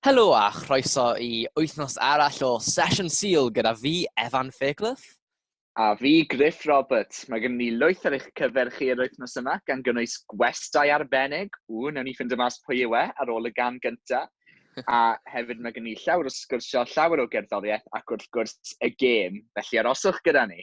Helo a chroeso i wythnos arall o Sesiwn Sul gyda fi, Evan Fairclough. A fi, Griff Roberts. Mae gen ni lwyth ar eich cyfer chi yr wythnos yma, gan gynnwys gwestai arbennig. Ww, newn ni ffindio mas pwy yw e ar ôl y gan gynta. A hefyd mae gen ni llawer o sgwrsio, llawer o gerddoriaeth ac wrth gwrs y gêm. Felly aroswch gyda ni.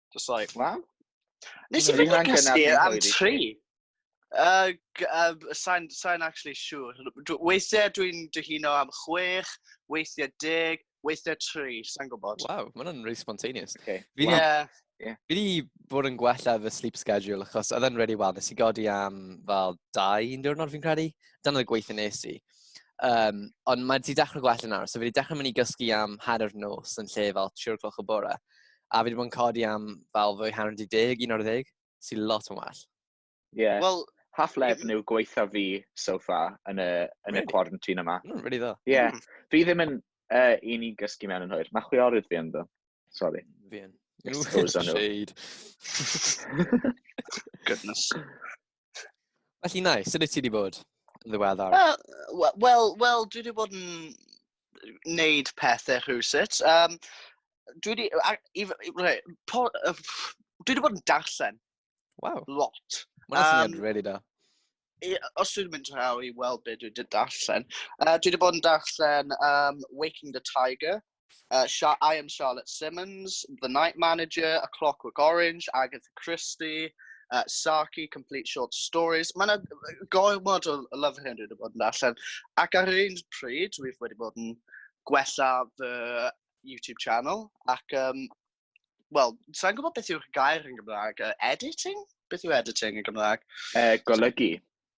Just like, na. Nes i fynd i cysgu am tri. Uh, uh, sa'n sa actually siŵr. Sure. Weithiau dwi'n dyhuno am chwech, weithiau deg, weithiau tri, sa'n gwybod. Wow, mae hwnna'n really spontaneous. Okay. Fi wow. yeah. yeah. Fi wedi bod yn gwella fy sleep schedule, achos oedd e'n really well. Nes i godi am fel dau un diwrnod fi'n credu. Dan oedd y gweithio nes i. Um, ond mae wedi dechrau gwella nawr, so fi wedi dechrau mynd i gysgu am hanner nos yn lle fel 3 o'clock o bore. A fi wedi bod yn codi am fel fwy hanner 10, un o'r ddeg, sy'n lot yn well. Ie. Yeah. Wel, half lefn yw gweitha fi so far yn y, yn really? y quarantine yma. Mm, really ddo. Ie. Yeah. Mm. Fi ddim yn uh, un i gysgu mewn yn hwyr. Mae chwiorydd fi ynddo. Sorry. Fi yn. Shade. Goodness. Felly nai, sut wyt ti wedi bod yn ddiweddar? Wel, wel, wel dwi wedi bod yn neud pethau rhywsut. Um, dwi wedi... Dwi wedi bod yn darllen. Wow. Lot. Mae'n syniad um, really da. Os dwi'n mynd draw i weld beth dwi wedi darllen, uh, dwi wedi bod yn darllen um, Waking the Tiger, Uh, I am Charlotte Simmons, The Night Manager, A Clockwork Orange, Agatha Christie, uh, Saki, Complete Short Stories. Mae yna gormod o Love 100 wedi bod yn allan. Ac ar yr un pryd, dwi wedi bod yn gwella fy YouTube channel. Ac, um, wel, sa'n gwybod beth yw'r gair yn Gymraeg. Uh, editing? Beth yw editing yn Gymraeg? Uh, golygu.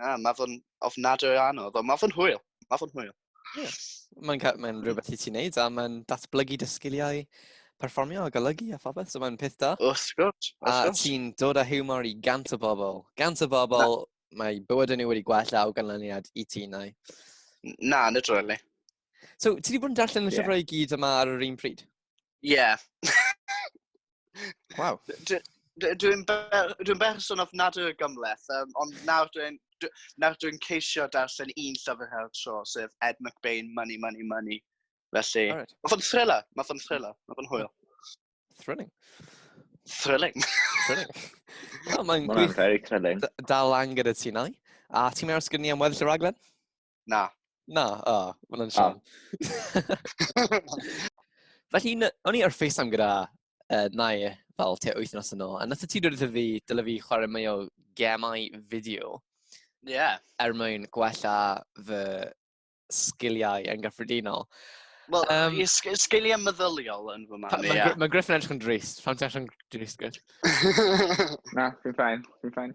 Na, mae fo'n ofnadwy o anodd, ond mae fo'n hwyl. Mae fo'n hwyl. Yeah. Mae'n mae rhywbeth i ti'n neud, a mae'n datblygu dy sgiliau perfformio a golygu a phobeth, so mae'n peth da. Wrth gwrs. A ti'n dod â humor i gant o bobl. Gant o bobl, mae bywyd yn nhw wedi gwella o ganlyniad i ti, nai. Na, literally. So, ti wedi bod yn darllen y yeah. llyfrau i gyd yma ar yr un pryd? Ie. Yeah. wow. Dwi'n dwi berson of nad yw'r gymleth, um, ond nawr dwi'n nawr dwi'n ceisio darllen un llyfr her tro, sef Ed McBain, Money, Money, Money. Felly, right. mae fo'n thriller, mae fo'n thriller, mae fo'n hwyl. Thrilling. Thrilling. thrilling. oh, Mae'n gwych. very thrilling. Dal lan gyda ti nai. A ti'n mynd ar sgynnu am weddill y raglen? Na. Na, o, oh, mae'n yn siom. Felly, o'n i ar FaceTime gyda uh, Nai fel te wythnos yn ôl, a nath ti dod wrtho fi, dyle fi chwarae mwy o gemau fideo. Ie. Yeah. Er mwyn gwella fy sgiliau yn gyffredinol. Wel, um, sgiliau meddyliol yn fy marn i. Mae Griffin edrych yn drist. Pam ti'n edrych yn drist, Griff? Na, fi'n ffain. Fi'n ffain.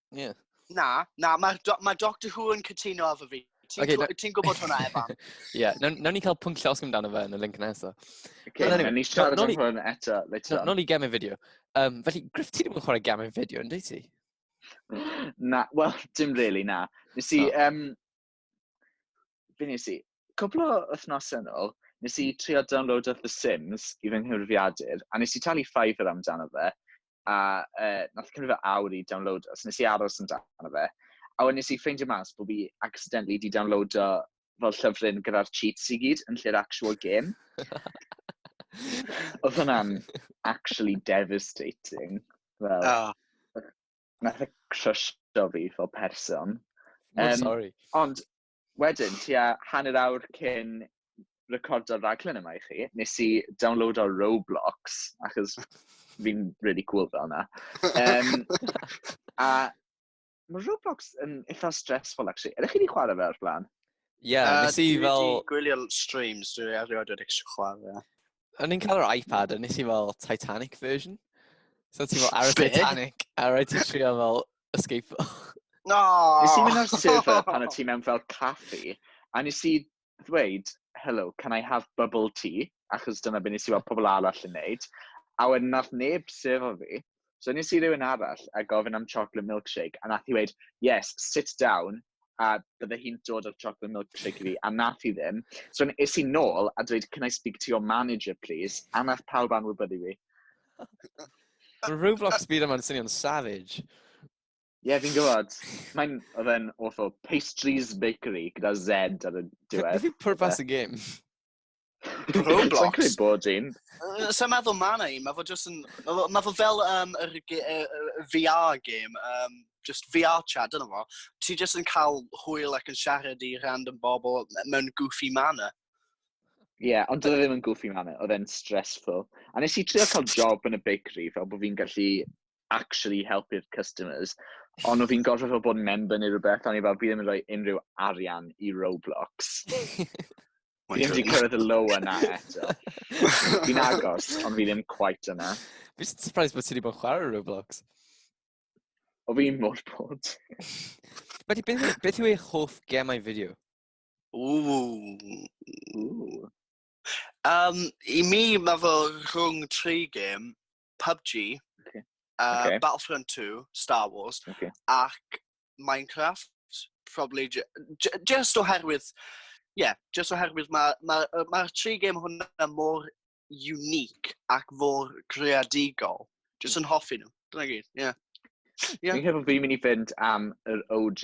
Yeah. Na, na, mae do, ma Doctor Who yn cytuno efo fi. Ti'n okay, no... ti gwybod hwnna, Evan? Ie, yeah, nawn ni cael pwnc llosg amdano fe yn y link nesaf. Okay, no, nawn ni siarad am hwn eto. Nawn ni gamu fideo. Um, felly, Griff, ti ddim yn chwarae gamu fideo, ynddi ti? Na, wel, dim really, na. Nes i, oh. um, Be nes i? Cwpl o wythnosau yn ôl, nes i trio download of The Sims i fy nghyfrifiadur, a nes i talu Fiverr amdano fe, a uh, nath cymryd fy awr i download, os nes i aros amdano fe, a wedyn nes i ffeindio mas bod fi accidentally di download o fel llyfryn gyda'r cheats i gyd yn lle'r actual game. Oedd hwnna'n actually devastating. Fel, oh. nath e crysio fi fel person. Oh, um, sorry. Ond wedyn, ti a hanner awr cyn recordo'r raglen yma i chi, nes i download o'r Roblox, achos fi'n really cool fel yna. Um, a mae Roblox yn eitha stressful, actually. Ydych chi wedi chwarae fe o'r blaen? Ie, yeah, nes i fel... Dwi wedi gwylio streams, dwi wedi erioed wedi chwarae. o'n i'n cael yr iPad, o'n nes i fel Titanic version. So ti'n fel ar y Titanic, a rhaid ti'n trio fel escape. No! Nes i mynd ar server pan o ti mewn fel caffi, a nes i ddweud, hello, can I have bubble tea? Achos dyna beth nes i weld pobl arall yn neud. A wedyn nath neb server fi, So nes i rywun arall a gofyn am chocolate milkshake, a nath i weid, yes, sit down, a bydde hi'n dod o'r chocolate milkshake i fi, a nath i ddim. So nes i nôl a dweud, can I speak to your manager, please? A nath pawb anwybyddu fi. Mae Roblox byd yma'n swnio'n savage. Ie, yeah, fi'n gwybod. Mae'n, oedd e'n awful. Pastries Bakery, gyda Z ar y diwedd. Beth yw pwrpas y gêm? Roblox? Sa'n credu bod un. Sa'n meddwl ma na un, mae fo just yn... Mae fo fel um, yr, uh, VR game, um, just VR chat, dyna fo. Ti just yn cael hwyl ac yn siarad i random bobl mewn goofy manner. Ie, yeah, ond dwi e ddim yn goofy manner, oedd e'n stressful. A nes i trio cael job yn y bakery, fel bod fi'n gallu actually helpu'r customers. Ond fi'n gorfod fel bod yn member neu rhywbeth, ond i fel, fi ddim yn rhoi unrhyw arian i Roblox. Fi ddim wedi cyrraedd y low yna eto. Fi'n agos, ond fi ddim quite yna. Fi'n surprised bod ti wedi bod yn chwarae Roblox. O fi'n mor bod. Beth, beth, beth yw eich hoff gemau fideo? Ooh. Ooh. Um, I mi, mae fo rhwng tri gem. PUBG, okay. Uh, okay. Battlefront 2, Star Wars, okay. ac Minecraft, probably just oherwydd, yeah, just oherwydd mae'r ma, ma, ma tri game hwnna mor unique ac mor creadigol. Just yn hoffi nhw. Dyna gyd, ie. Yeah. Yeah. Fi'n credu bod fi'n mynd i fynd am yr OG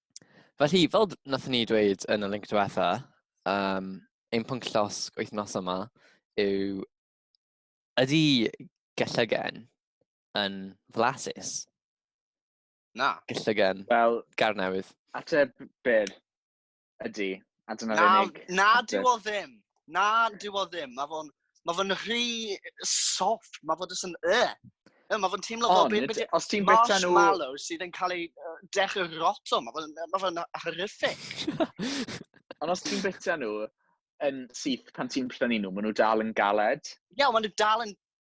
Felly, fel wnaethon ni dweud yn y link diwetha, um, ein pwnc llosg wythnos yma yw ydy gellygen yn flasus? Na. Gellygen. Wel, gar newydd. Ateb byr ydy. A dyna'r na, unig... Na, dwi o ddim. Na, dwi o ddim. Mae fo'n ma fo rhy soft. Mae fo jyst yn... Uh. Mae fo'n teimlo fel... Ond, be, os ti'n bita nhw... Marshmallow sydd yn cael ei uh, dechrau roto. Mae fo'n ma fo horrific. Ond os ti'n bita nhw yn syth pan ti'n prynu nhw, maen nhw dal yn galed. Ie, yeah, maen nhw dal yn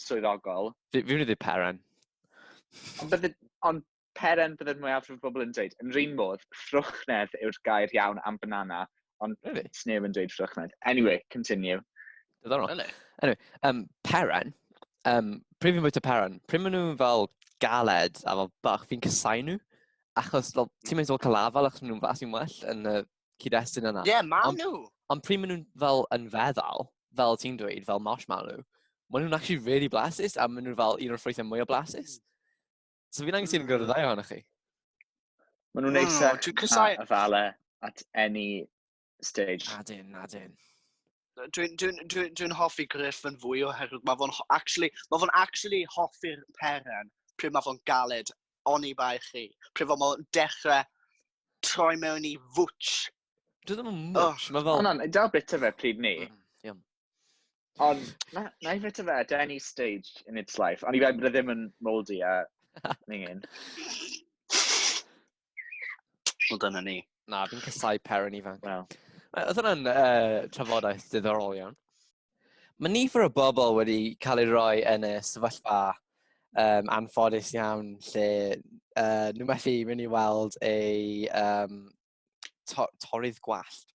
swyddogol. Fi, fi wedi peren. Ond bydde, ond peren bydde'r mwyafrif o bobl yn dweud. Yn rhan modd, ffrwchnedd yw'r gair iawn am banana, ond really? sneb yn dweud ffrwchnedd. Anyway, continue. Dyddorol. Really? Anyway, um, peren, um, pryd fi'n bwyta peren, pryd maen nhw'n fel galed a fel bach, fi'n cysau nhw. Achos fel, ti'n mynd fel calafel achos maen nhw'n fas i'n well yn y cyd-destun yna. Ie, yeah, maen nhw! Ond pryd maen nhw'n fel yn feddal, fel ti'n dweud, fel marshmallow, maen nhw'n actually really blasus, a maen nhw'n fel un o'r ffrwythau mwy o blasus. So fi'n angen sy'n gwrdd ddau ohonych chi. Maen nhw'n neisach a fale at any stage. Adyn, adyn. Dwi'n dwi, dwi, dwi hoffi Griff yn fwy oherwydd mae fo'n actually, mae fo'n actually hoffi'r peren pryd mae fo'n galed oni bai chi. Pryd mae fo'n dechrau troi mewn i fwtch. Dwi ddim yn mwtch, oh. mae fel... Ond da bit o fe pryd ni. Mm, Ond na, na i bit o fe at any stage in its life. Ond i fe bod e ddim yn moldy a ningin. Wel, dyna ni. Na, fi'n cysau per yn ifanc. Wel. Oedd hwnna'n uh, trafodaeth diddorol iawn. Mae nifer o bobl wedi cael ei roi yn y sefyllfa um, anffodus iawn lle uh, nhw methu mynd i weld ei um, to torydd gwallt.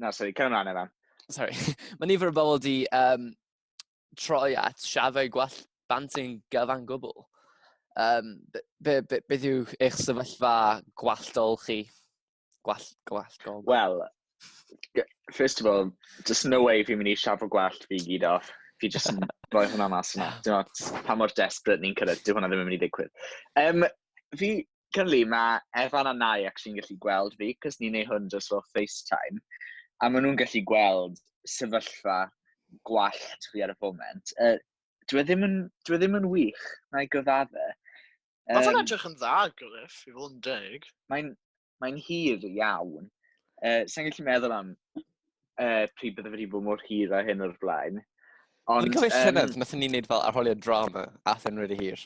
Na, sori, cael ymlaen efo. Sorry. Mae nifer o bobl wedi um, troi at siafau gwell banting gyfan gwbl. Um, be, be, be, beth yw eich sefyllfa gwalltol chi? Gwall, gwall, gwall. Wel, first of all, just no way fi'n mynd i siafo gwallt fi gyd off. Fi just yn rhoi hwnna mas yna. Dwi'n meddwl, pa mor desperate ni'n cyrraedd, dyw hwnna ddim yn mynd i ddigwydd. Um, fi, Cynli, mae Evan a Nai ac sy'n gallu gweld fi, cos ni'n ei hwn dros fel FaceTime, a maen nhw'n gallu gweld sefyllfa gwallt fi ar y foment. Uh, dwi e ddim yn, dwi e ddim yn wych, na i gyfadde. Um, Mae fe'n edrych yn dda, Griff, i fod yn deg. Mae'n mae hir iawn. Uh, Sa'n gallu meddwl am uh, pryd bydde wedi bod mor hir a hyn o'r blaen. Ond... Dwi'n cofio um, llynedd, nath ni'n neud fel arholiad drama, a thyn really hir.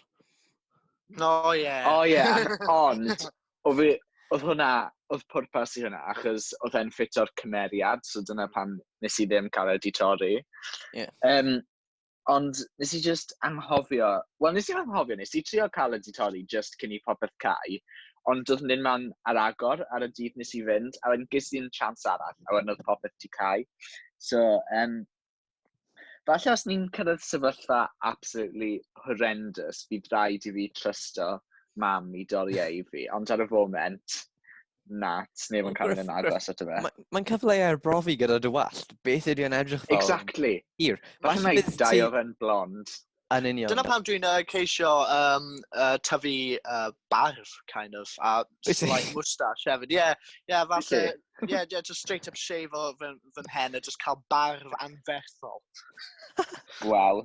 No, ie. Yeah. O, oh, ie, yeah. ond, o fi, oedd hwnna, oedd pwrpas i hwnna, achos oedd e'n ffit o'r cymeriad, so dyna pan nes i ddim cael ei di torri. Yeah. Um, Ond nes i jyst anghofio, wel nes i anghofio, nes i trio cael y ditori jyst cyn i popeth cau, ond doedd nhw'n man ar agor ar y dydd nes i fynd, a wedyn ges i'n chance arall, a wedyn oedd popeth ti cau. So, um, falle os ni'n cyrraedd sefyllfa absolutely horrendous, bydd rhaid i fi trysto mam i dorri ei fi, ond ar y foment, nat, neb yn cael mynd yn agos at y fe. Mae'n cyfle ar brofi gyda dy wallt. Beth ydy o'n edrych fel? Exactly. Hir. Falle mae dau o fe'n blond. Yn union. Dyna pam dwi'n uh, ceisio um, uh, tyfu uh, barf, kind of, a slight moustache hefyd. Ie, yeah, yeah, falle, ie, yeah, yeah, just straight up shave o fy, fy hen a just cael barf anferthol. Wel,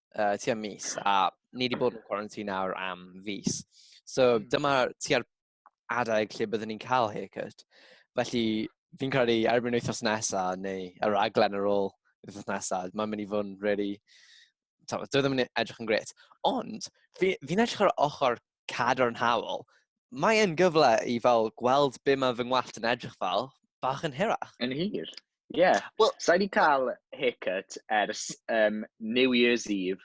uh, tua mis, a ni wedi bod yn quarantine nawr am fus. So hmm. dyma tua'r adeg lle byddwn ni'n cael haircut. Felly fi'n credu erbyn wythnos nesaf neu yr aglen ar ôl wythnos nesaf, mae'n mynd i fod yn really... Dwi ddim yn edrych yn gret. Ond, fi'n fi edrych ar ochr cadarnhaol, mae e'n gyfle i fel gweld be mae fy ngwallt yn edrych fel, bach yn hirach. Yn hir. Ie. Yeah. Wel, Sa i wedi cael haircut ers um, New Year's Eve,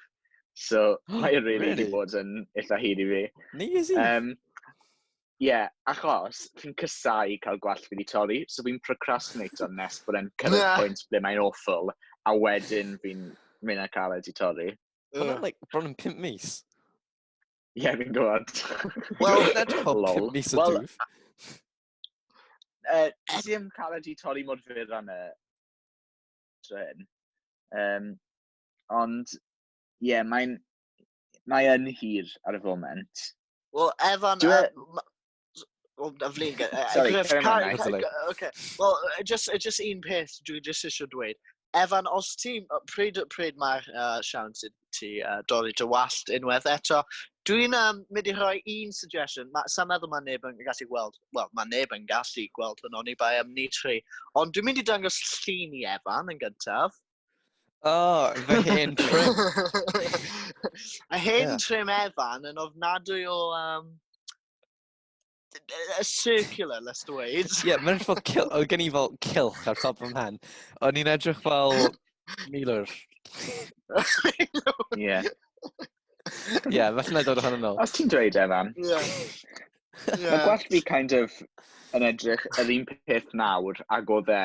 so mae e'n really wedi bod yn eitha hir i fi. New Year's Eve? Um, Ie, yeah, achos fi'n cysau cael gwallt fi wedi torri, so fi'n procrastinate o'n nes bod e'n cyrraedd yeah. pwynt ble mae'n awful, a wedyn fi'n mynd â cael e wedi torri. Hwna'n like, bron yn pimp mis. Ie, yeah, fi'n gwybod. Wel, that's pob pum mis o dŵf. Uh, Nes i ddim cael wedi torri mor fyr am y tren. Um, ond, ie, yeah, mae'n mae yn hir ar y foment. Wel, Evan, Dwi... uh, Wel, na flin gen... Sorry, carry on, na, it's a load. Okay. Wel, just, just un peth dwi'n just eisiau dweud. Evan, os ti, pryd, pryd mae'r uh, siawn sydd ti uh, dorri dy wallt unwaith eto, dwi'n um, mynd i rhoi un suggestion. Ma, sa'n meddwl mae neb yn gallu gweld, wel, mae neb yn gallu gweld hwn o'n i bai am ni tri. Ond dwi'n mynd i dangos llun i Evan yn gyntaf. Oh, fy hen trim. a hen yeah. trim Evan yn ofnadwy o... Um, a circular, let's do it. Ie, yeah, mae'n fel cilch, oedd gen i fel cilch ar top fy mhen. O'n i'n edrych fel milwr. Ie. Ie, felly na dod ohono nôl. Os ti'n dweud, Evan. Ie. Yeah. Yeah. Mae gwell fi kind of yn edrych yr un peth nawr ag oedd e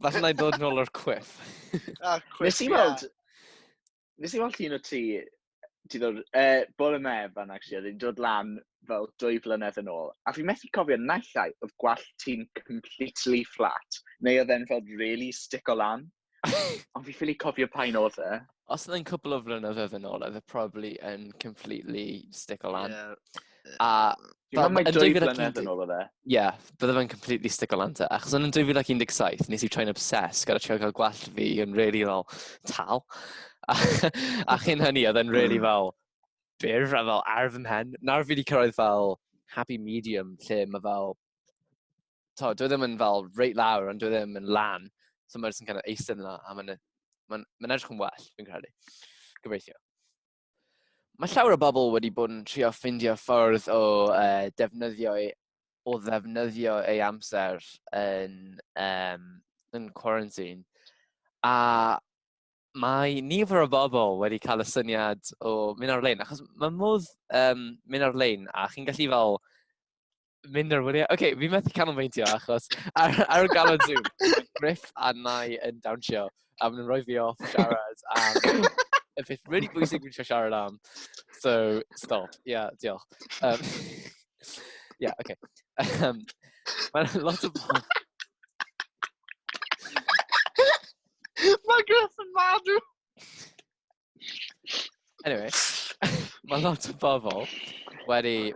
Falle na i ddod nôl o'r quiff. Ah, quiff, Nes i weld... Nes i weld un o ti... Ti ddod... Uh, bore me, fan actually, oedd hi'n dod lan fel dwy flynedd yn ôl. A fi methu cofio naill ai oedd gwall ti'n completely flat, neu oedd e'n fel really stick o lan. Ond fi ffili cofio pa'n oedd e. os oedd e'n cwpl o flynyddoedd yn ôl, oedd e probably yn completely stick o lan. Yeah. A... Dwi'n meddwl mae 2011 flynedd yn ôl oedd e. Ie, bydde fe'n completely stick o lan te. Achos yn 2017, nes i troi'n obsessed gyda trio cael gwell fi yn really fel tal. A, a chyn hynny, oedd e'n really hmm. fel byr, a fel arf ymhen. Nawr fi wedi cyrraedd fel happy medium, lle mae fel to, dwi e ddim yn fel reit lawr, ond dwi e ddim yn lan. So mae'n sy'n kind of eistedd yna, a mae'n ma ma edrych yn well, fi'n credu. Gobeithio. Mae llawer o bobl wedi bod yn trio ffindio ffordd o uh, defnyddio ei, o ddefnyddio ei amser yn, um, yn quarantine. A mae nifer o bobl wedi cael y syniad o mynd ar-lein, achos mae modd um, mynd ar-lein, a chi'n gallu fel mynd ar wyliau. Oce, okay, fi methu canolbwyntio achos ar, ar y galon Zoom, Griff a Nai yn dawnsio a maen nhw'n rhoi fi off siarad am y peth really bwysig fi'n siarad siarad am. So, stop. Ie, yeah, diolch. Um, Ie, yeah, oce. Okay. Um, Mae'n lot o bobl... Mae Griff yn madw! Anyway, mae lot o bobl wedi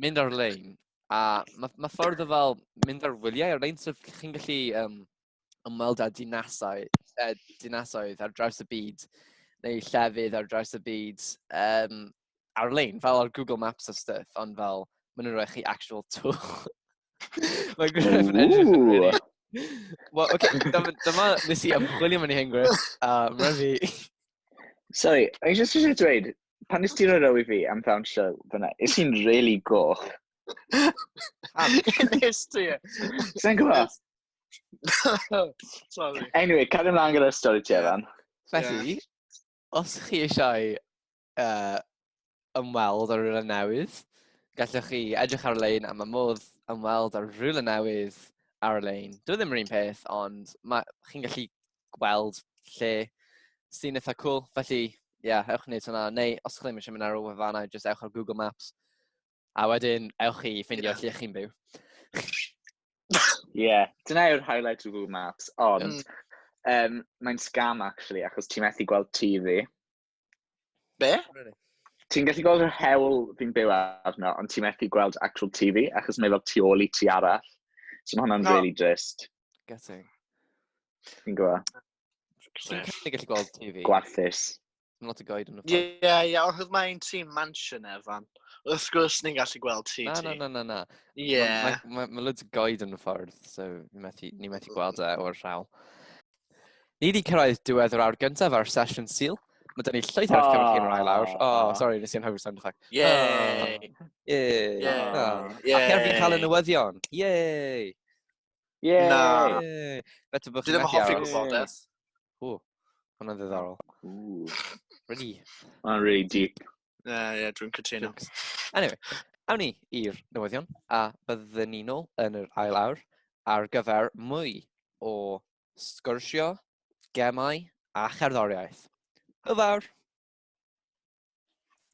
mynd ar-lein a mae ma ffordd o fel mynd ar wyliau ar-lein, so chi'n gallu um, ymweld â dinasau, uh, dinasoedd ar draws y byd neu llefydd ar draws y byd um, ar-lein, fel ar Google Maps a stuff, ond fel, maen nhw'n rhoi chi actual twch. Mae'n gwneud yn edrych yn really... Wel, oce, dyma, dyma nes i ymchwilio mewn i hyn, Griff. A mae fi... Sorry, o'n i jyst eisiau dweud, pan nes ti'n rhoi i fi am ddawnsio fyna, is i'n really goch. Am, nes ti e. Sa'n gwybod? Sorry. Anyway, cario ymlaen gyda'r stori ti, Evan. Felly, os chi eisiau uh, ymweld ar rhywle newydd, gallwch chi edrych ar-lein am y modd ymweld ar rhywle newydd ar-lein. Dwi ddim yr un peth, ond chi'n gallu gweld lle sy'n eitha cool. Felly, ie, yeah, ewch wneud hwnna. Neu, os ydych chi'n eisiau mynd ar ôl wefannau, jyst ewch ar Google Maps. A wedyn, ewch chi ffindio yeah. lle chi'n byw. Ie, yeah. dyna yw'r highlight o Google Maps, ond mm. um, mae'n scam actually, achos ti'n methu gweld TV. Be? Ti'n gallu gweld yr hewl fi'n byw arno, ond ti'n methu gweld actual TV, achos mae fel tu ôl i ti arall. So mae hwnna'n no. really drist. Getting. Fi'n gwybod. Ti'n gallu gweld TV? Gwarthus. Mae'n lot o goed yn y ffordd. Ie, yeah, ie, yeah, oedd mae'n tîm mansion efan. Wrth gwrs ni'n gallu gweld ti. Na, na, na, na, na. Ie. Mae ma, ma, ma loads o goed yn y ffordd, so ni methu, ni methu gweld e o'r rhawl. Ni wedi cyrraedd diwedd yr awr gyntaf ar sesiwn Sil. Mae dyn ni llwyth ar eich cymryd chi'n rhaid lawr. O, oh, sori, nes i'n hawdd sound effect. Yay! Yay! Ac er fi'n cael y newyddion. Yay! Yay! Na. Beth ydych chi'n methu hoffi gwybodaeth. O, hwnna'n ddiddorol. Really? Mae'n really deep. Uh, yeah, dwi'n cytuno. Anyway, awn ni i'r newyddion, a byddwn ni'n ôl yn yr ail awr ar gyfer mwy o sgyrsio, gemau a cherddoriaeth. Y fawr!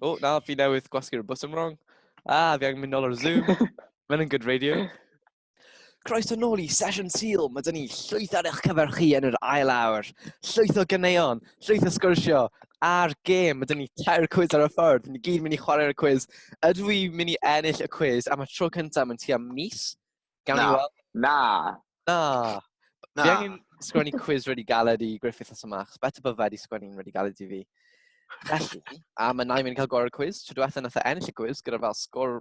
O, oh, na, fi newydd gwasgu'r bwtwm wrong. Ah, fi angen mynd nôl ar Zoom. Mae'n yn good radio. Croeso nôl i Sesiwn Sul. Mae dyn ni llwyth ar eich cyfer chi yn yr ail awr. Llwyth o gyneuon, llwyth o sgwrsio a'r gêm. Mae dyn ni tair cwiz ar y ffordd. Ni gyd mynd i chwarae'r cwiz. Ydw i mynd i ennill y cwiz am y tro cyntaf yn tua mis? Gawn ni weld. Na. Na. Na. Fi angen sgwennu cwiz wedi galed i Griffith a Samach. Better bod fe wedi sgwennu'n wedi galed i fi. Felly, a mae Naim yn cael gorau'r cwiz. Trwy diwethaf nath e ennill y cwiz gyda fel sgwr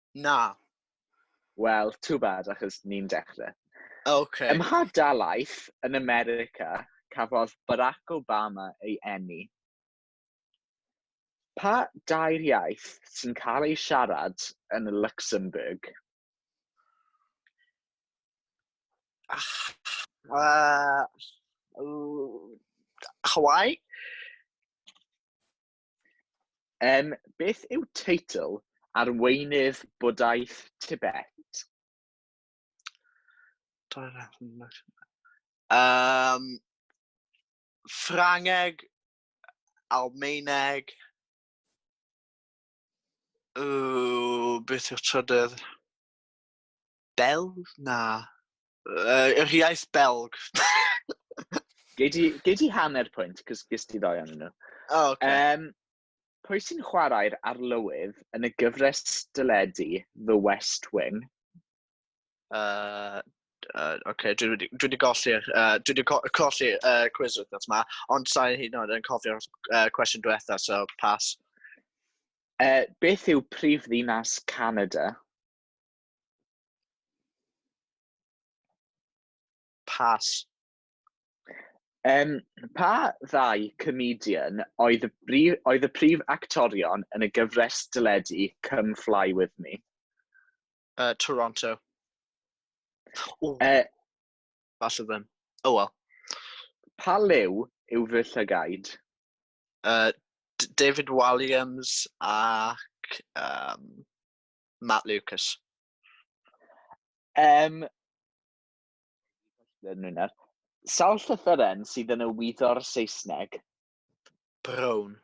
Na. Wel, too bad, achos ni'n dechrau. Okay. Ym mha dalaeth yn America cafodd Barack Obama ei eni? Pa dair iaith sy'n cael ei siarad yn Luxembourg? Uh, Hawaii? Yym, beth yw teitl arweinydd bwdhaeth Tibet? Yym, Ffrangeg, Almaeneg, ww, beth yw'r trydydd? Belg? Na. Uh, yr iaith Belg. Gei di, gei di hanner pwynt, cos gys di ddoi anyn nhw. O, oh, okay. Um, pwy sy'n chwarae'r arlywydd yn y gyfres dyledu The West Wing? Uh, uh, okay, dwi wedi, dwi wedi golli'r uh, dwi wedi co colli uh, quiz wythnos yma, ond sa'i hyn yn oed yn cofio'r uh, cwestiwn diwetha, so pass. Uh, beth yw prif ddinas Canada? Pas. Um, pa ddau comedian oedd y, brif, oedd y prif actorion yn y gyfres dyledu Come Fly With Me? Uh, Toronto. O, uh, falle ddim. O, oh, wel. Pa lew yw fy llygaid? Uh, David Williams ac... Um, Matt Lucas. Um, Sawl llythyren sydd yn y wyddo'r Saesneg? Brown.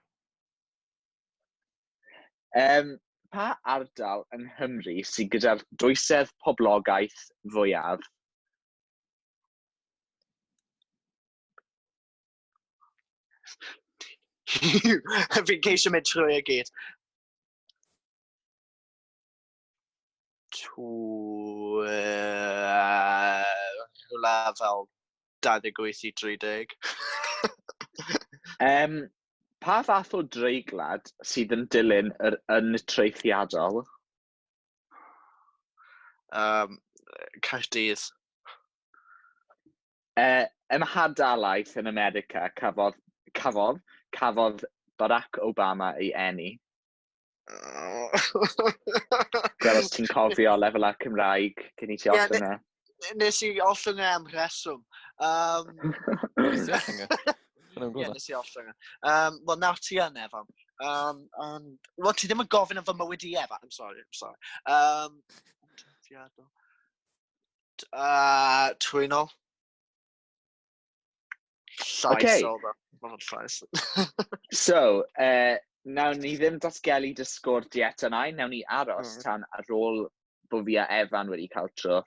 Um, pa ardal yng Nghymru sydd gyda'r dwysedd poblogaeth fwyaf? Fi'n ceisio mynd trwy y gyd. rhywle fel 28 i 30. um, pa fath o dreiglad sydd yn dilyn yr yn treithiadol? Um, Caerdydd. E, yn hadalaeth yn America, cafodd, cafodd, cafodd Barack Obama ei eni. Gweld os ti'n cofio lefelau Cymraeg cyn i ti yeah, ollwng e. Nes i ollwng e am rheswm. Um, Ie, nes i ollwng e. Um, Wel, nawr ti yn, Evan. Um, and, well, ti ddim yn gofyn am fy mywyd i, Evan. I'm sorry, I'm sorry. Um, uh, twynol. Llais okay. o dda. Mae hwn llais. so, uh, nawn ni ddim datgelu dy sgôr di eto na, nawn ni aros mm. tan ar ôl bod fi a Evan wedi cael tro.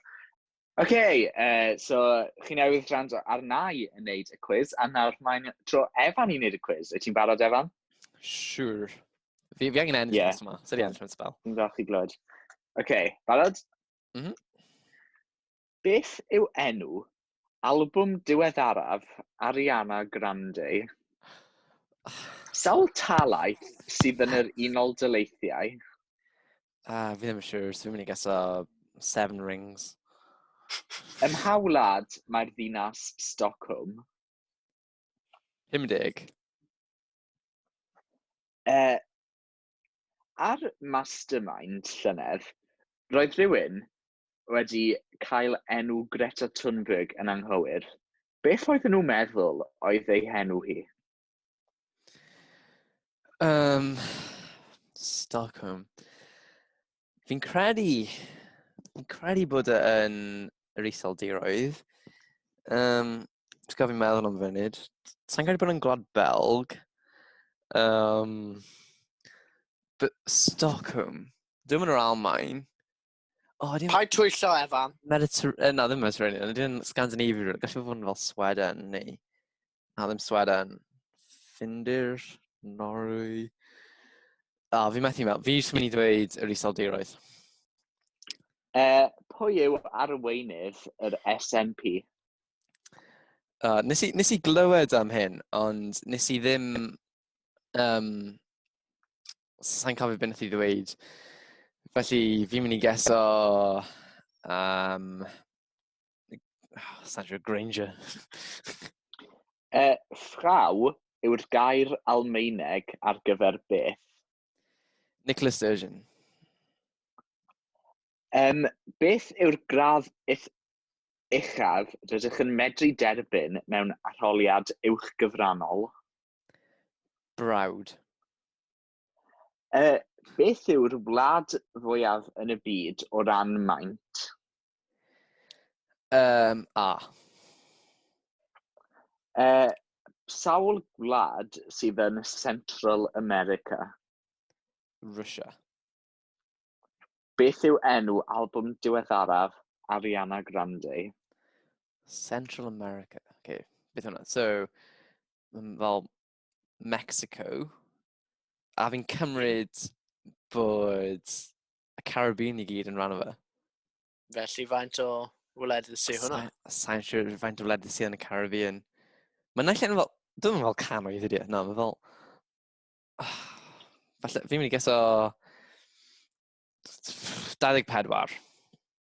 Oce, okay, uh, so chi newydd gwrando ar nai yn neud y cwiz, a nawr mae'n tro Evan i neud y cwiz. Wyt ti'n barod, Evan? Siwr. Sure. Fi, fi angen ennill yeah. yma. Sut i ennill yn spel? Yn dda chi glod. Oce, okay, barod? Mhm. Mm Beth yw enw albwm diweddaraf Ariana Grande? Sawl talaith sydd yn yr Unol Daleithiau? Ah, fi ddim yn siŵr, so fi'n mynd i geso Seven Rings. Ym mha wlad mae'r ddinas Stockholm? 50. Uh, Ar Mastermind llynedd, roedd rhywun wedi cael enw Greta Thunberg yn anghywir. Beth oedden nhw'n meddwl oedd ei henw hi? Um, Stockholm. Fi'n credu, fi'n credu bod e yn yr iseldiroedd. Um, Ti'n gofyn meddwl am funud. Sa'n credu bod yn gwlad Belg. Um, but Stockholm. Dwi'n mynd o'r Almain. Oh, ddim... Paid twyllo, Evan. Mediter... Na, ddim Mediterranean. Dwi'n Scandinavia. Gallu fod yn fel Sweden, neu... Adam Swadan. Ffindir, Norwy. A, oh, fi methu mewn. Fi eisiau mynd i ddweud yr iseldiroedd. E, pwy yw arweinydd yr SNP? Uh, nes, i, nes i glywed am hyn, ond nes i ddim... Um, Sa'n cofio beth nes i ddweud. Felly, fi'n mynd i geso... Um, Sandra Granger. uh, Frau yw'r gair Almaeneg ar gyfer beth? Nicholas Sturgeon. Um, beth yw'r gradd uchaf rydych yn medru derbyn mewn arholiad uwchgyfrannol? Brawd. Uh, beth yw'r wlad fwyaf yn y byd o ran maint? Um, a. Uh, sawl gwlad sydd yn Central America? Russia. Beth yw enw album diweddaraf Ariana Grande? Central America. Okay, beth hwnna? So, fel Mexico, a fi'n cymryd bod y Caribbean i gyd yn rhan o fe. Felly faint o wledydd sy hwnna? Sa'n siŵr faint o wledydd sydd yn y Caribbean. Mae'n naill yn fel, dwi'n meddwl canoedd ydi, e, na, mae'n fel, oh, falle, fi'n mynd i geso 24.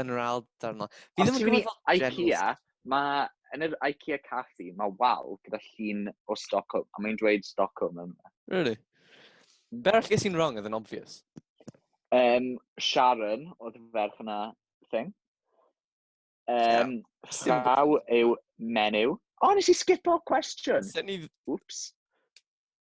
yn yr ail darn o. Fi ddim yn gwybod fel general IKEA, mae yn yr IKEA caffi, mae wal gyda llun o Stockholm, a mae'n dweud Stockholm yma. Really? Hmm. Be arall ges i'n wrong oedd yn obvious? Um, Sharon, oedd y ferch yna, thing. Um, yeah. Rhaw yw menyw. O, oh, nes i skipo cwestiwn. Oops.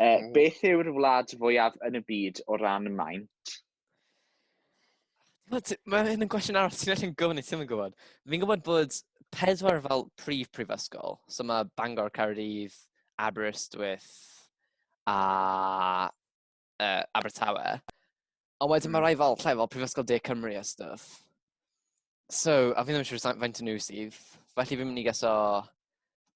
E, mm. Beth yw'r wlad fwyaf yn y byd o ran maint? Mae hyn yn gwestiwn arall ti'n allan gofyn i ti'n yn gwybod. Fi'n gwybod bod pedwar fel prif prifysgol. So mae Bangor, Caerdydd, Aberystwyth a uh, Abertawe. Ond wedyn mae hmm. rhai fel lle fel Prifysgol De Cymru a stuff. So, a fi'n ddim yn siŵr faint o nhw sydd. Felly fi'n mynd i gaso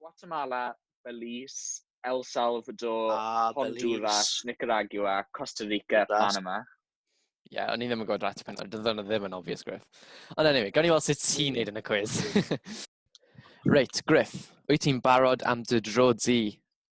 Guatemala, Belize, El Salvador, ah, Honduras, Nicaragua, Costa Rica, Panama. Ie, yeah, o'n i ddim yn gwybod Ratty Pensaer, dyna nhw ddim yn obvious, Griff. Ond anyway, gawn ni weld sut ti'n hmm. neud yn y cwiz. Reit, Griff, wyt ti'n barod am dy dro di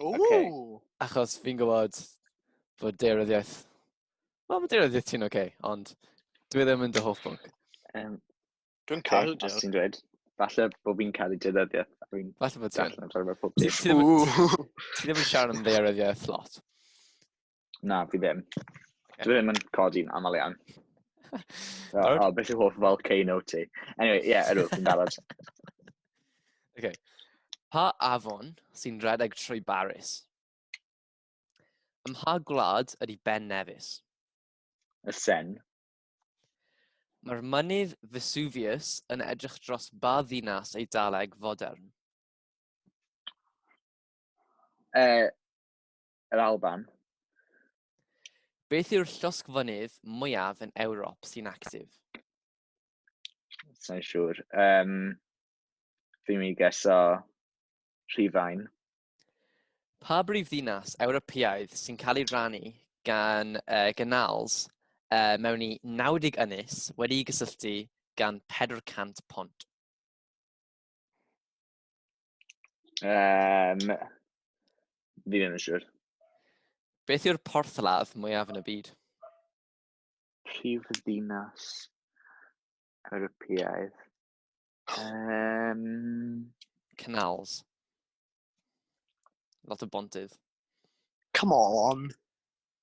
Ww! Okay. Achos fi'n gwybod bod deiryddiaeth... Wel, mae deiryddiaeth ti'n oce, okay, ond dwi ddim yn dy hoff bwnc. Um, Dwi'n cael dy Os ti'n dweud, falle bod fi'n cael ei deiryddiaeth. Falle bod ti'n. Ti ddim yn siarad am ddeiryddiaeth lot. Na, fi ddim. Dwi ddim yn codi'n aml iawn. So, Barod? o, beth yw hoff fel K-No ti? Anyway, ie, yeah, ydw, fi'n barod. Okay. Pa afon sy'n rhedeg trwy Baris? Ym mha gwlad ydy Ben Nevis? Y sen. Mae'r mynydd Vesuvius yn edrych dros ba ddinas Eidaleg fodern? Uh, Yr Alban. Beth yw'r llosgfynydd mwyaf yn Ewrop sy'n actif? Sa'n siŵr. Um, fi'n mynd i geso Rhifain. Pa brif ddinas Ewropeaidd sy'n cael ei rannu gan uh, gynals uh, mewn i 90 ynys wedi'i gysylltu gan 400 pont? Um, fi ddim yn siŵr. Beth yw'r porthladd mwyaf yn y byd? Prif ddinas Ewropeaidd. Um, Canals. Lot o bontydd. Come on!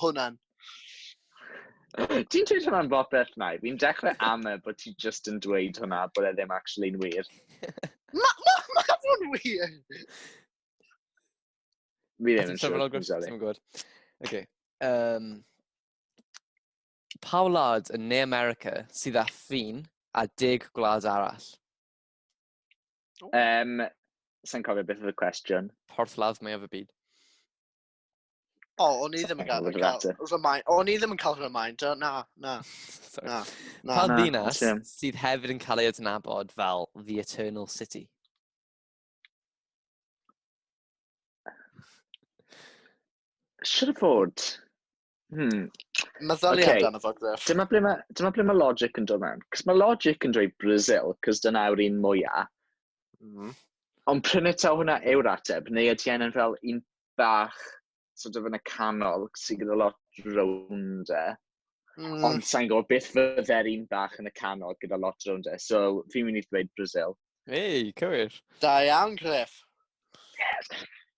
hwnna'n. Ti'n dweud hwnna'n bopeth nai. Fi'n dechrau am e bod ti just yn dweud hwnna, bod e ddim actually'n wir. Mae ma, ma fo'n wir! Mi ddim yn siŵr. Ti'n gwybod. Okay. Um, pa wlad yn Ne America sydd â ffin a deg gwlad arall? Um, Sa'n cofio beth oedd y cwestiwn. Porthladd mae o fy byd. O, oh, o'n i ddim yn cael, cael remind, o'n i ddim yn cael remind, o, na, na, na, na. Pan ddinas sydd hefyd yn cael ei adnabod fel The Eternal City. Siwr fod, Hmm. Meddyliau okay. amdano fo, Griff. Dyma ble mae, dyma ble mae logic yn dod mewn. Cos mae logic yn dweud Brazil, cos dyna yw'r un mwyaf. Mm. Ond prynu taw hwnna yw'r ateb, neu ydy hyn yn fel un bach sort of yn y canol sy'n gyda lot rownd e. Mm. Ond sa'n gwybod beth fydde'r un bach yn y canol gyda lot rownd e. So fi'n mynd i ddweud Brazil. Ei, cywir. Da iawn, Griff. Yes.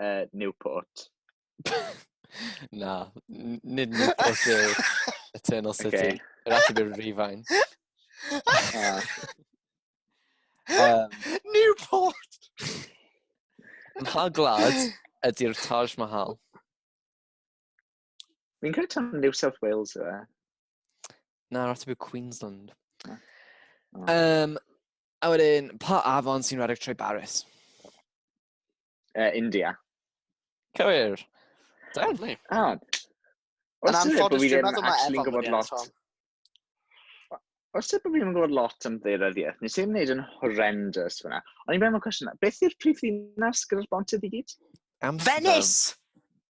uh, Newport. na, nid Newport yw Eternal City. Okay. Yr ateb yw'r Rifine. Ah. um, Newport! Mha glad ydy'r Taj Mahal? Fi'n credu tan New South Wales yw e. Na, rhaid yw Queensland. Ah. Um, a wedyn, pa afon sy'n rhedeg trwy Baris? uh, India. Cywir. Deadly. Ah. Yn anffodus, dwi'n meddwl mae Efo'n gwybod lot. Os ydw i'n gwybod lot am ddeiryddiaeth, nes i'n gwneud yn horrendous fyna. Ond i'n meddwl cwestiwn, beth yw'r prif ddinas gyda'r bontydd i gyd? Amsterdam. Venice!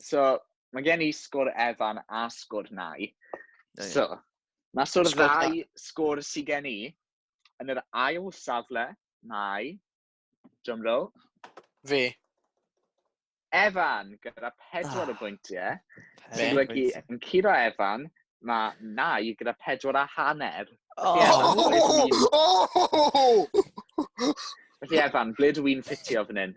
so, mae gen i sgwr Evan a sgwr Nai. So, mae sgwr ddau sgwr sydd gen i. Yn yr ail safle, mae... John Rowe. Fi. Evan, gyda pedwar oh. o bwyntiau. Sy'n golygu, yn curo Evan, mae Nai gyda pedwar a hanner. Oh! Oh! Felly Evan, ble dw i'n ffitio fan hyn?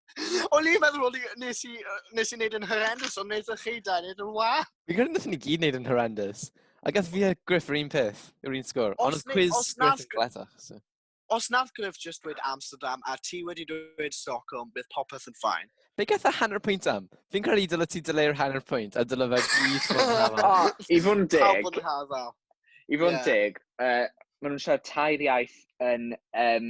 O'n i'n meddwl o'n i, nes i, yy, nes i wneud yn horrendous, ond nes i chi da, nes yn wa. Fi'n credu nath ni gyd neud yn horrendous. A gath fi a Griff yr un peth, yw'r un sgwr. Os Ond oedd ne- quiz os Griff nath yn Gr- gletach. So. Os nath Griff just dweud Amsterdam a ti wedi dweud Stockholm, bydd popeth yn ffain. Be gath y hanner pwynt am? Fi'n credu dyle ti dyleu'r hanner pwynt a dyle fe gyd fod yn hafal. O, i fod yn Pawb deg, bod yn hafal. i fod yn Ie. deg, uh, maen nhw'n siarad tair iaith yn um,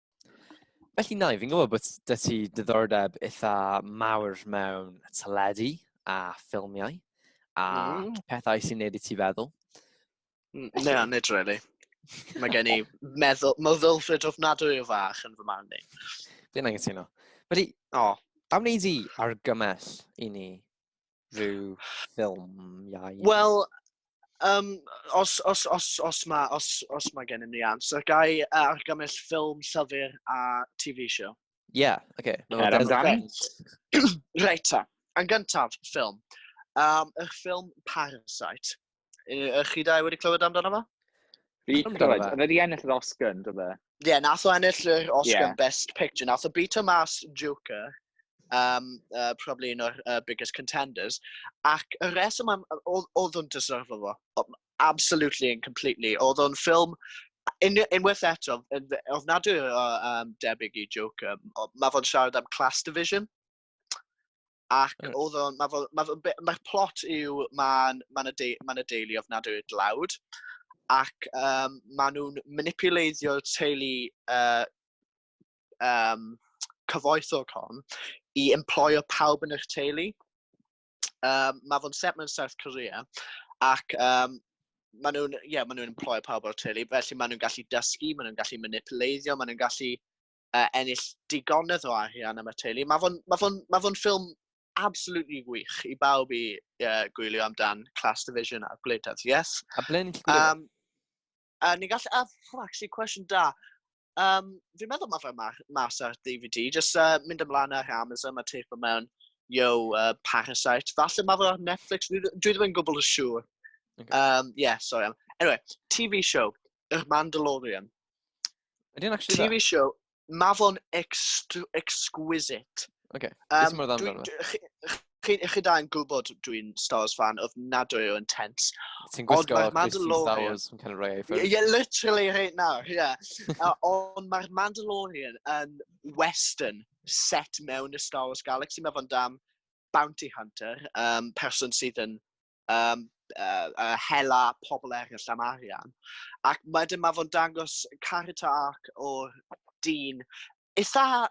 Felly na, fi'n gwybod bod dy ti diddordeb eitha mawr mewn teledu a ffilmiau a mm. pethau sy'n neud i ti feddwl. Ne, nid really. Mae gen i meddwl, meddwl ffrid ofnadwy o fach yn fy man ni. Fi'n angen anghytuno. Felly, oh. am wneud i argymell i ni rhyw ffilmiau? Wel, um, os, os, os, os mae os, os ma gennym ni ans, ac ai argymell ffilm, llyfr a TV show? Ie, yeah, oce. Okay. No, er amdani. Reit ta. Yn gyntaf, ffilm. Um, yr ffilm Parasite. Ych chi dau wedi clywed amdano fo? Fi wedi clywed. Oedd wedi ennill yr Oscar, yn dod e? Ie, yeah, nath o ennill yr Oscar yeah. Best Picture. Nath o beat o mas Joker, um, uh, probably un o'r uh, biggest contenders. Ac y reswm am... Oedd o'n deserve fo. Absolutely and completely. Oedd o'n ffilm in, unwaith eto, ofnadwy o um, debyg i Joker, mae fo'n siarad am class division. Ac mm. oedd o'n, mae fo, ma fo, ma plot yw, mae'n ma y, de, ma y deulu ofnadwy o dlawd, ac um, maen nhw'n manipuleiddio teulu uh, um, cyfoethog hon i employo pawb yn eich teulu. Um, mae fo'n set mewn South Korea, ac um, maen nhw'n, ie, yeah, maen nhw'n employo pawb o'r teulu, felly maen nhw'n gallu dysgu, maen nhw'n gallu manipuleiddio, maen nhw'n gallu uh, ennill digonedd o arian am y teulu. Mae fo'n ma ma fo ffilm absolutely wych i bawb i uh, gwylio amdan Class Division a Gwleidyddiaeth. Yes? A ble ni'n gwylio? Um, a ni'n gallu... A, oh, actually, cwestiwn da. Um, fi'n meddwl mae fe mas ar DVD. Just uh, mynd ymlaen ar Amazon, mae teip o mewn Yo, uh, Parasite. Falle mae fe ar Netflix. Dwi, dwi ddim yn gwybod y siŵr. Okay. Um, yeah, sorry. Anyway, TV show, Yr Mandalorian. Ydy'n actually TV dda? show, ma fo'n exquisite. Oce, okay. um, beth mor dda amdano? chi, chi da yn gwybod dwi'n Star Wars fan of nadwy o intense. Ti'n gwisgo Christian Star Wars yn cael rhoi ei ffyrdd. Yeah, literally right now, yeah. uh, ond mae'r Mandalorian yn western set mewn y Star Wars Galaxy. Mae fo'n dam bounty hunter, um, person sydd yn um, uh, uh, hela pobl eraill am arian. Ac wedyn mae fo'n dangos character arc o'r dyn eitha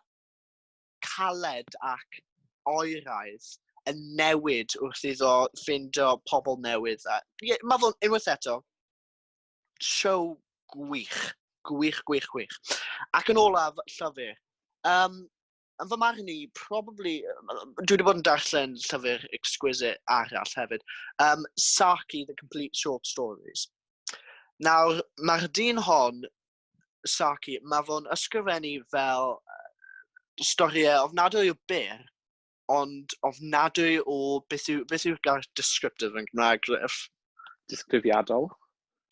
caled ac oeraidd yn newid wrth iddo ffindio pobl newydd. A, yeah, mae fo'n unwaith eto, show gwych, gwych, gwych, gwych. Ac yn olaf, llyfr. Um, yn fy marn i, probably, dwi wedi bod yn darllen llyfr exquisite arall hefyd, um, Saki, The Complete Short Stories. Nawr, mae'r dyn hon, Saki, mae fo'n ysgrifennu fel storiau ofnadwy o byr, ond ofnadwy o beth yw, beth yw'r gair descriptive yn Gymraeg, Griff? Disgrifiadol.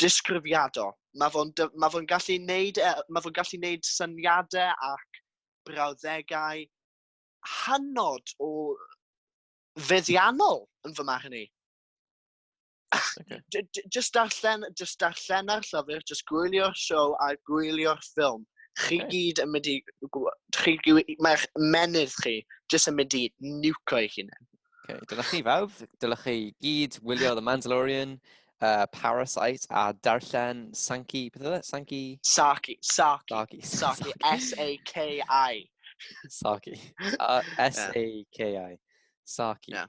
Disgrifiadol. Mae fo'n ma fo gallu neud, e, ma fo gallu neud syniadau ac brawddegau hanod o feddiannol yn fy marn i. Okay. Just darllen, just darllen ar llyfr, just gwylio'r siow a gwylio'r ffilm. Chi okay. gyd yn mynd i... Chi, mae'ch menydd chi just yn mynd i nuco i hunain. Okay. Dylech chi fawr, dylech chi gyd wylio The Mandalorian, uh, Parasite a darllen Sankey, beth oedd e? Sankey? Saki, Saki, Saki, Saki, S-A-K-I. Saki, S-A-K-I, Saki. Yeah.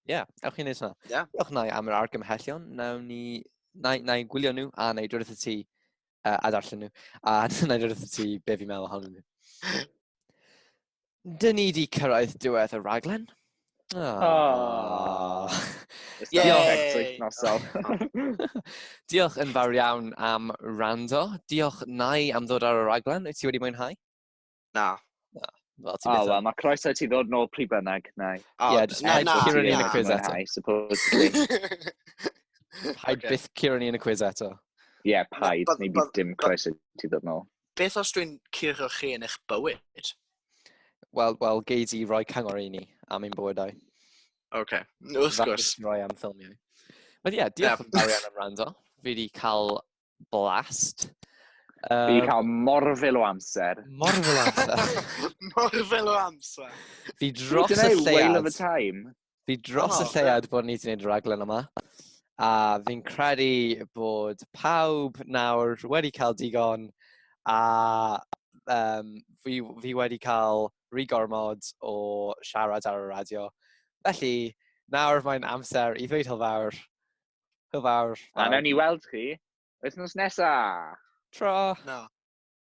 yeah, ewch chi'n neud hwnna. Yeah. Ewch na am yr argymhellion, nawn ni, na, na i gwylio nhw a na i drwy'r ti uh, a darllen nhw, a na i drwy'r ti be fi'n meddwl ohonyn nhw. dyn ni wedi cyrraedd diwedd y raglen. Oh. Diolch yn fawr iawn am rando. Diolch nai am ddod ar y raglen. Wyt ti wedi mwynhau? Na. Na. Wel, ti'n byth... mae croeso ti ddod nôl pryd bynnag, nai. Oh, yeah, just na, na, Kieran yn y quiz eto. I suppose. Paid byth Kieran yn y quiz eto. Ie, paid. Neu bydd dim croeso ti ddod nôl. beth os dwi'n curo chi yn eich bywyd? Wel, wel, gei di roi cyngor i ni am ein bywydau. Oce, okay. wrth gwrs. Roi am ffilmiau. Ond ie, yeah, diolch yn fawr iawn am rando. Fi wedi cael blast. Um, fi wedi cael morfil o amser. Morfil o amser. morfil o amser. Fi dros y lleiad. Wail of a time. Fi dros oh, y lleuad bod ni wedi gwneud y raglen yma. A fi'n credu bod pawb nawr wedi cael digon a um, fi, fi wedi cael rhy gormod o siarad ar y radio. Felly, nawr mae'n amser i ddweud hylfawr. Hylfawr. A newn ni weld chi wythnos nesa. Tro. No.